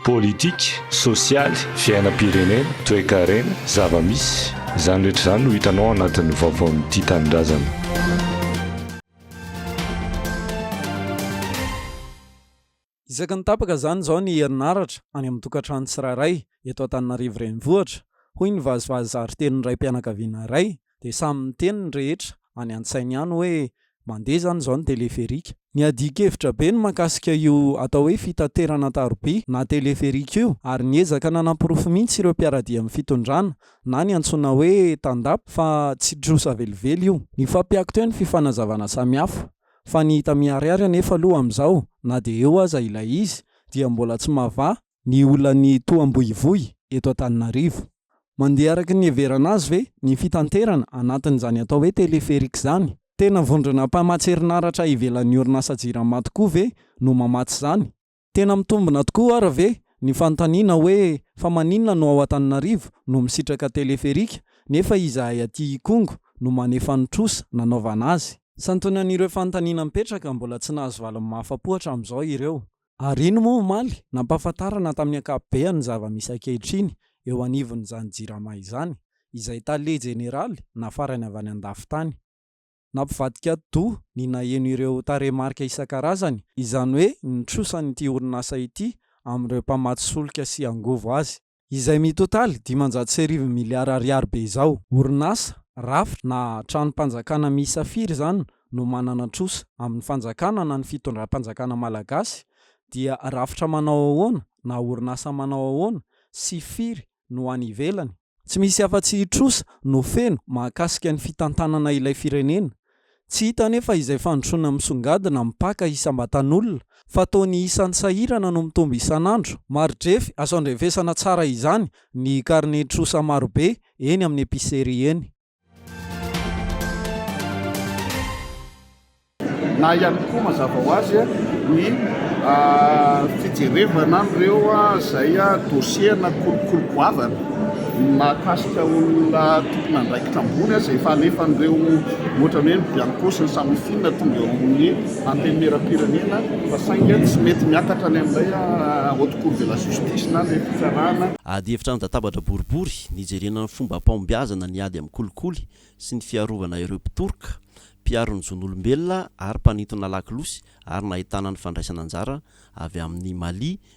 Politika, sosialy, fiainam-pirenena, toekarena, zava-misy, izany rehetra izany no hitanao ao anatin'ny vaovaon'ny Tia Tanindrazana. Isaky ny tapaka izany izao ny herinaratra any amin'ny tokantrano tsirairay eto Antananarivo Renivohitra, hoy ny vazivazy zary tenin'ny raim-pianakaviana iray Dia samy niteny ny rehetra any an-tsainy ihany hoe mandeha izany izao ny teleferika. Niadian-kevitra be ny mahakasika io atao hoe fitaterana an-taroby na teleferika io ary niezaka nanaporofo mihitsy ireo mpiara-dia amin'ny fitondrana na ny antsoina hoe Tandap fa tsy trosa velively io. Nifampiaky teo ny fifanazavana samihafa fa ny hita miharihary anefa aloha amin'izao na dia eo aza ilay izy dia mbola tsy mahavaha ny olan'ny toham-boivoy eto Antananarivo. Mandeha araka ny niheverana azy ve ny fitanterana anatin'izany atao hoe téléphérique izany? Tena vondrona mpamatsy herinaratra ivelan'ny orinasa Jirama tokoa ve no mamatsy izany? Tena mitombina tokoa ary ve ny fanontaniana hoe fa maninona no ao Antananarivo no misitraka téléphérique nefa izahay aty Ikongo no manefa ny trosa nanaovana azy? Santionan'ireo fanontaniana mipetraka mbola tsy nahazo valiny mahafapo hatramin'izao ireo. Ary iny moa omaly, nampahafantarana tamin'ny ankapobeny ny zava-misy ankehitriny eo anivon'izany Jirama izany, izay Tale Jeneraly nafarany avy any an-dafin-tany. Nampivadika ati-doha ny naheno ireo tarehimarika isan-karazany, izany hoe ny trosan'ity orinasa ity amin'ireo mpamatsy solika sy angovo azy. izay mitotaly dimanjato sy arivo miliara ariary be izao. Orinasa, rafitra na tranom-panjakana miisa firy izany no manana trosa amin'ny fanjakana na ny fitondram-panjakana malagasy dia rafitra manao ahoana na orinasa manao ahoana sy firy no any ivelany? Tsy misy afa-tsy trosa no feno mahakasika ny fitantanana ilay firenena Tsy hita anefa izay fandrosoana misongadina mipaka isam-batan'olona fa toa ny isan'ny sahirana no mitombo isan'andro. Mari-drefy, azo andrefesana tsara izany ny karne trosa marobe eny amin'ny epicerie eny. Na ihany koa mazava ho azy ny fijerevana an'ireo izay dossier-na kolikoly goavana. Ny mahakasika olona tompon'andraikitra ambony aza efa alefan'ireo ohatran'ny hoe Bianco sy ny Samifina tonga eo amin'ny Antenimierampirenena fa saingy tsy mety miakatra any amin'ilay Haute Cour de la Justice na ilay fitsarana Ady hevitra an-databatra boribory nijerena ny fomba am-pahombiazana ny ady amin'ny kolikoly sy ny fiarovana ireo mpitoroka, mpiaro ny zon'olombelona ary mpanintona lakolosy ary nahitana ny fandraisana anjara avy amin'ny Mali,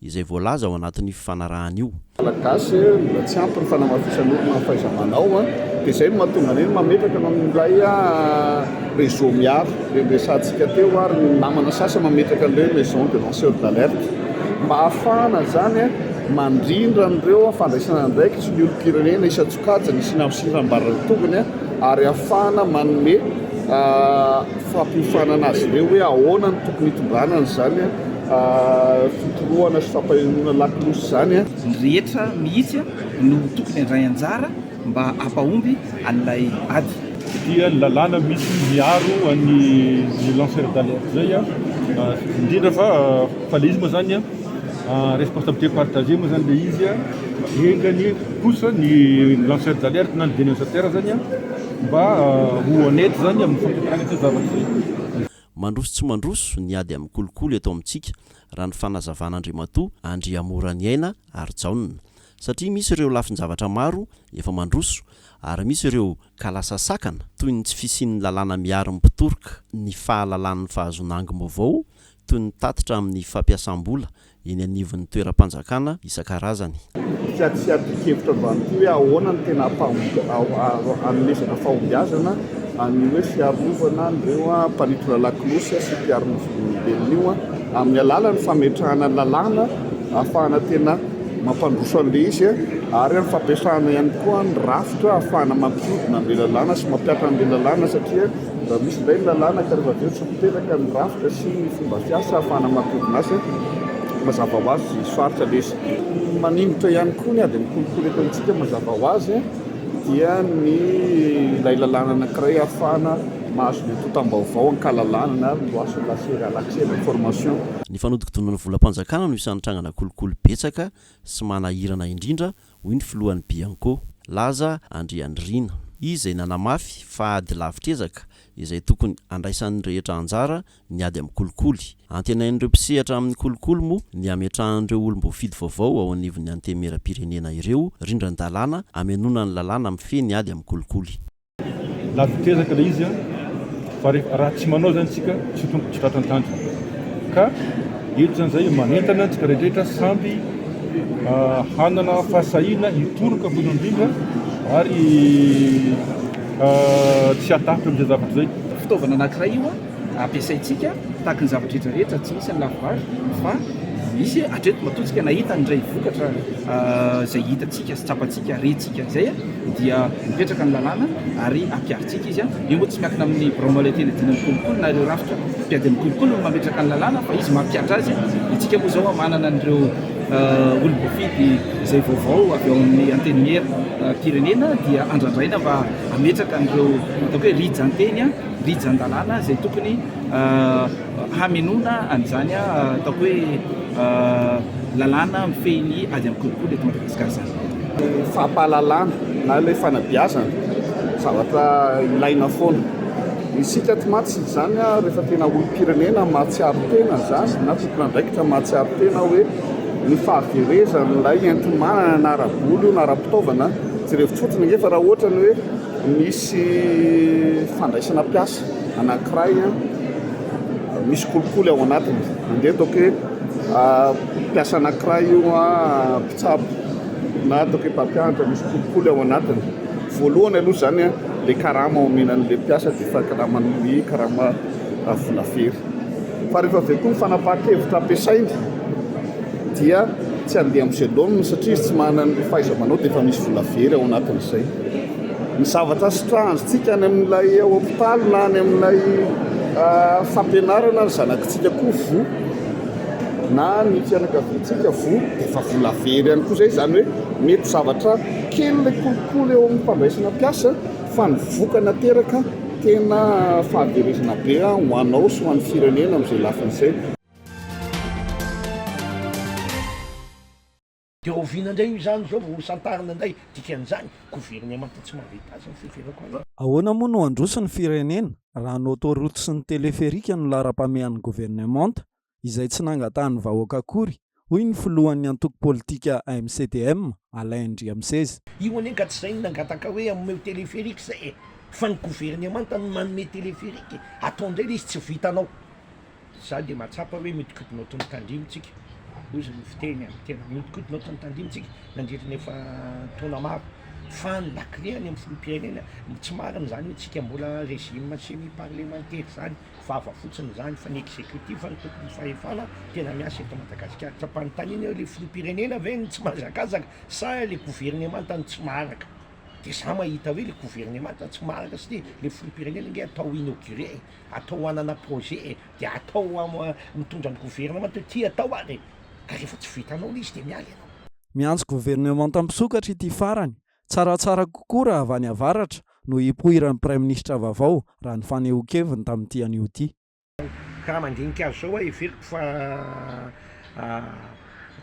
izay voalaza ao anatin'io fifanarahana io. Malagasy mbola tsy ampy ny fanamafisan'olona ny fahaiza-manao dia izay no mahatonga an'iny mametraka anao amin'ilay réseau miaro ireny resahantsika teo ary ny namana sasany mametraka an'ireny maison de lanceur d'alerte mba hahafahana izany mandrindra an'ireo fandraisana andraikitry ny olom-pirenena isan-tsokajiny hisiana amin'ny sindram-baran'ny tongony ary hahafahana manome fampiofanana azy ireo hoe ahoana no tokony hitondrana an'izany Fa fitorohana sy fampahenoana lakolosy izany. Ny rehetra mihitsy no tokony handray anjara mba hampahomby an'ilay ady. Dia ny lalàna misy miaro an'ny ny lanceur d'alerte izay indrindra fa fa le izy moa zany en responsabilité partagée moa zany le izy enganie kosa ny lanceur d'alerte na ny dénonciateur zany mba ho honnête zany amin'ny fampiakarana izay zavatra izay. Mandroso tsy mandroso ny ady amin'ny kolikoly eto amintsika, raha ny fanazavan'Andriamatoa Andriamoraniaina Harijaona. Satria misy ireo lafin-javatra maro efa mandroso, ary misy ireo kalasasakana toy ny tsy fisian'ny lalàna miaro ny mpitoroka ny fahalalan'ny fahazoana angom-baovao, toy ny tatitra amin'ny fampiasam-bola eny anivon'ny toeram-panjakana isan-karazany. Ka tsy adin-kevitra ambany koa hoe ahoana no tena hanomezana fahombiazana an'io hoe fiarovana an'ireo mpanintona lakolosy sy mpiaro ny zon'olombelona io amin'ny alalan'ny fametrahana ny lalàna ahafahana tena mampandroso an'ilay izy ary amin'ny fampiasana ihany koa ny rafitra ahafahana mampiodina an'ilay lalàna sy mampiatra an'ilay lalàna satria Raha misy indray ny lalàna ka rehefa avy eo tsy miteraka ny rafitra sy ny fomba fiasa ahafahana maka orinasa, mazava ho azy sarotra lesy. Maningotra ihany koa ny ady mikolokolo eto amintsika mazava ho azy dia ny ilay lalàna anankiray ahafahana mahazo ny antontam-baovao an-kalalahana na ny loi sur l'accès à l'accès à l'information. Ny fanodinkodinana volam-panjakana no isan'ny trangana kolikoly betsaka sy manahirana indrindra hoy ny filohan'ny Bianco, Laza Andrianirina, izay nanamafy fa ady lavitra ezaka izay tokony handraisan'ny rehetra anjara ny ady amin'ny kolikoly. Antenain'ireo mpisehatra amin'ny kolikoly moa ny hametrahan'ireo olom-boafidy vaovao ao anivon'ny Antenimierampirenena ireo rindran-dalàna hamenoana ny lalàna mifehy ny ady amin'ny kolikoly. Na vita ezaka ilay izy fa raha tsy manao izany isika tsy ho tonga tsy tratra ny tanjona. Ka eto izany izay manentana antsika rehetra samby hanana fahasahiana hitoroka voalohany indrindra ary tsy hatahotra amin'izay zavatra izay. Fitaovana anankiray io ampiasaintsika tahaka ny zavatra rehetra rehetra, tsy misy ny lafibary fa misy hatreto matoa tsika nahita indray vokatra izay hitantsika sy tsapantsika, rentsika. Dikan'izay dia hipetraka ny lalàna ary hampiharintsika izy. Io moa tsy miankina amin'ny birao maoriteny adino ny kolikoly na ireo rafitra mpiady ny kolikoly no mametraka ny lalàna fa izy mampihatra azy. Isika moa izao manana an'ireo olom-boafidy izay vaovao avy ao amin'ny antenimierim-pirenena dia andrandraina mba hametraka an'ireo ataoko hoe rijan-teny, rijan-dalàna izay tokony Hamenoana an'izany ataoko hoe lalàna mifehy ny ady amin'ny kolikoly eto Madagasikara izany. Fampahalalana na ilay fanabeazana, zavatra ilaina foana. Isika aty mantsy izany rehefa tena olom-pirenena mahatsiaro tena izany na tompon'andraikitra mahatsiaro tena hoe ny fahaverezan'ilay enti-manana na ara-bola io na ara-pitaovana, jereo fotsiny ange fa raha ohatra ny hoe misy fandraisana mpiasa. anankiray misy kolikoly ao anatiny andeha ataoko hoe mpiasa anankiray io mpitsabo na ataoko hoe mpampianatra misy kolikoly ao anatiny voalohany aloha izany a le karama omenan'le mpiasa dia efa karama ny karama vola very fa rehefa avy eo koa ny fanapahan-kevitra ampiasainy dia tsy andeha amin'izay laoniny satria izy tsy manana ny fahaiza-manao dia efa misy vola very ao anatin'izay Ny zavatra sitrahantsika any amin'ilay hopitaly na any amin'ilay fampianarana, ny zanakitsika koa voa na ny fianakaviantsika voa dia efa vola very ihany koa izay, izany hoe mety zavatra kely ilay kolikoly eo amin'ny fandraisana mpiasa fa ny vokany ateraka tena fahaverezana be ho anao sy ho an'ny firenena amin'izay lafiny izay. Dia oviana indray io izany izao vao hosantarina indray dikan'izany? Governemanta tsy mahavita azy ny fiheverako azy. Ahoana moa no handroso ny firenena raha ny autoroute sy ny téléphérique no laharam-pahamehan'ny governemanta izay tsy nangatahan'ny vahoaka akory, hoy ny filohan'ny antoko politika MCDM, Alain Andriamiseza. Io anie ka tsy izay no nangataka hoe omeo téléphérique izay e! Fa ny governemanta no manome téléphérique e! Atao indray ilay izy tsy vitanao. Izaho dia mahatsapa hoe mihodinkodina ao Tontan-dimy tsika, hoy ny fiteny amin'ny tena. Mihodinkodina ao Tontan-dimy tsika nandritra ny efa taona maro. Fa ny lakile any amin'ny filoham-pirenena, tsy marina izany hoe tsika mbola régime semi-parlementaire izany, vava fotsiny izany, fa ny executif no tompon'ny fahefana tena miasa eto Madagasikara. Tsy ampanontaniana eo, ilay filoham-pirenena ve no tsy mahazakazaka sa ilay governemanta no tsy maharaka? Dia izaho mahita hoe ilay governemanta tsy maharaka satria ilay filoham-pirenena ange atao inauguré e! atao hanana projet e, dia atao mitondra ny gouvernement hoe ty atao ary e, ka rehefa tsy vitanao le izy dia miala ianao. Miantso governemanta misokatra ity farany, tsaratsara kokoa raha avy any avaratra no hipoiran'ny praiminisitra vaovao raha ny fanehoan-keviny tamin'ity anio ity. Ka raha mandinika azy izao aho heveriko fa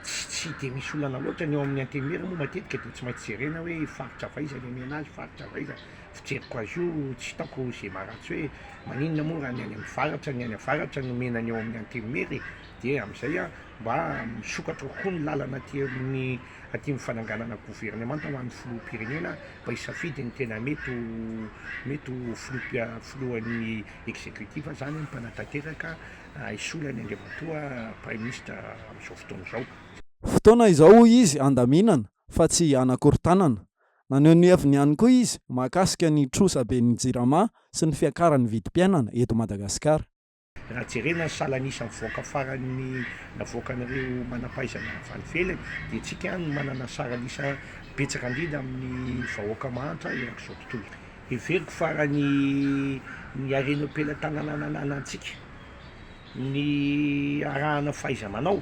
tsy dia misy olana loatra ny ao amin'ny antenimiera moa matetika dia tsy maintsy jerena hoe faritra avaiza ny omena azy, faritra avaiza fijeriko azy io tsy hitaoko izay maharatsy hoe maninona moa raha ny any amin'ny varatra ny any avaratra no omena ny ao amin'ny antenimiery dia amin'izay aho mba misokatra kokoa ny lalana aty amin'ny aty amin'ny fananganana governemanta ho an'ny filoham-pirenena mba hisafidy ny tena mety ho mety ho filoha filohan'ny executif izany ny mpanatanteraka hisolo an'i Andriamatoa praiminisitra amin'izao fotoana izao. Fotoana izao hoy izy handaminana fa tsy hanakorontanana Naneho ny heviny ihany koa izy mahakasika ny trosa be ny jirama sy ny fiakaran'ny vidim-piainana eto Madagasikara. Raha jerena ny salan'isa mivoaka farany navoakan'ireo manam-pahaizana avy any ivelany dia tsika ihany no manana saran'isa betsaka indrindra amin'ny vahoaka mahantra erak'izao tontolo izao. Heveriko fa raha ny ny harena eo am-pelatananananantsika, Ny arahana fahaiza-manao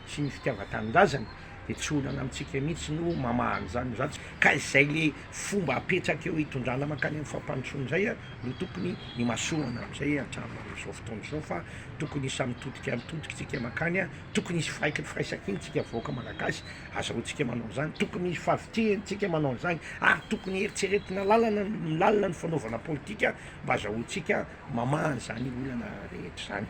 sy ny fitiavan-tanindrazana dia tsy olana amintsika mihitsy no mamaha an'izany no izany, ka izay le fomba apetraka eo hitondrana mankany amin'ny fampandrosoana izay no tokony himasoana amin'izay hatramin' izao fotoana izao fa tokony hisy mitodika mitodika tsika mankany, tokony hisy firaiky ny firaisan-kina tsika vahoaka malagasy azahoantsika manao an'izany, tokony hisy fahavitrihany tsika manao an'izany ary tokony heritreretina lalana ny lalina ny fanaovana politika mba azahoantsika mamaha an'izany olana rehetra izany.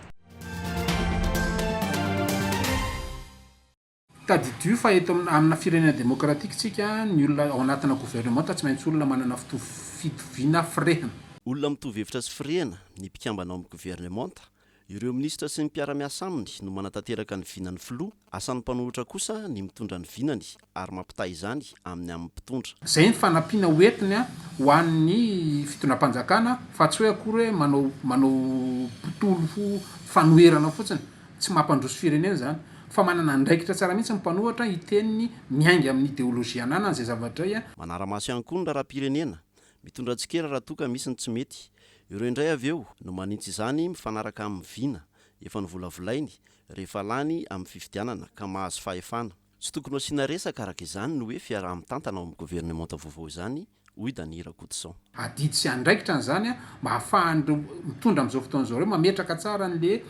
Tadidio fa eto amina firenena demokratika isika, ny olona ao anatina governemanta tsy maintsy olona manana fitoviana firehana. Olona mitovy hevitra sy firehana ny mpikambana ao amin'ny governemanta. Ireo minisitra sy ny mpiara-miasa aminy no manatanteraka ny vinan'ny filoha, Asan'ny mpanohitra kosa ny mitondra ny vinany ary mampitaha izany amin'ny amin'ny mpitondra. Izay ny fanampiana ho entiny ho an'ny fitondram-panjakana fa tsy hoe akory hoe manao manao botolo fanoherana fotsiny. Tsy mampandroso firenena izany. Fa manana andraikitra tsara mihitsy ny mpanohatra hiteny ny miainga amin'ny ideolojia ananany izay zava-dray. Manara-maso ihany koa ny raharaham-pirenena. Mitondra tsikera raha toa ka misy ny tsy mety. Ireo indray avy eo no manintsy izany mifanaraka amin'ny vina efa novolavolainy rehefa lany amin'ny fifidianana ka mahazo fahefana. Tsy tokony ho asiana resaka araka izany ny hoe fiaraha-mitantana ao amin'ny governemanta vaovao izany, hoy Dany Rakotoson. Adidy sy andraikitra ny izany mba hahafahan'ireo mitondra amin'izao fotoana izao ireo mametraka tsara an'ilay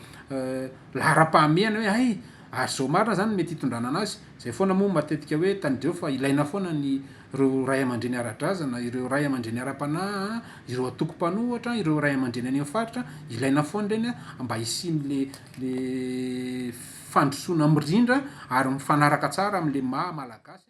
laharam-pahamehana hoe hay ary izao marina izany no mety hitondrana an'azy. Izay foana moa matetika hoe tanidrao fa ilaina foana ny ireo ray aman-dreny ara-drazana, ireo ray aman-dreny ara-panahy, ireo antoko mpanohatra, ireo ray aman-dreny any amin'ny faritra, ilaina foana ireny mba hisian'ilay le fandrosoana mirindra ary mifanaraka tsara amin' le maha malagasy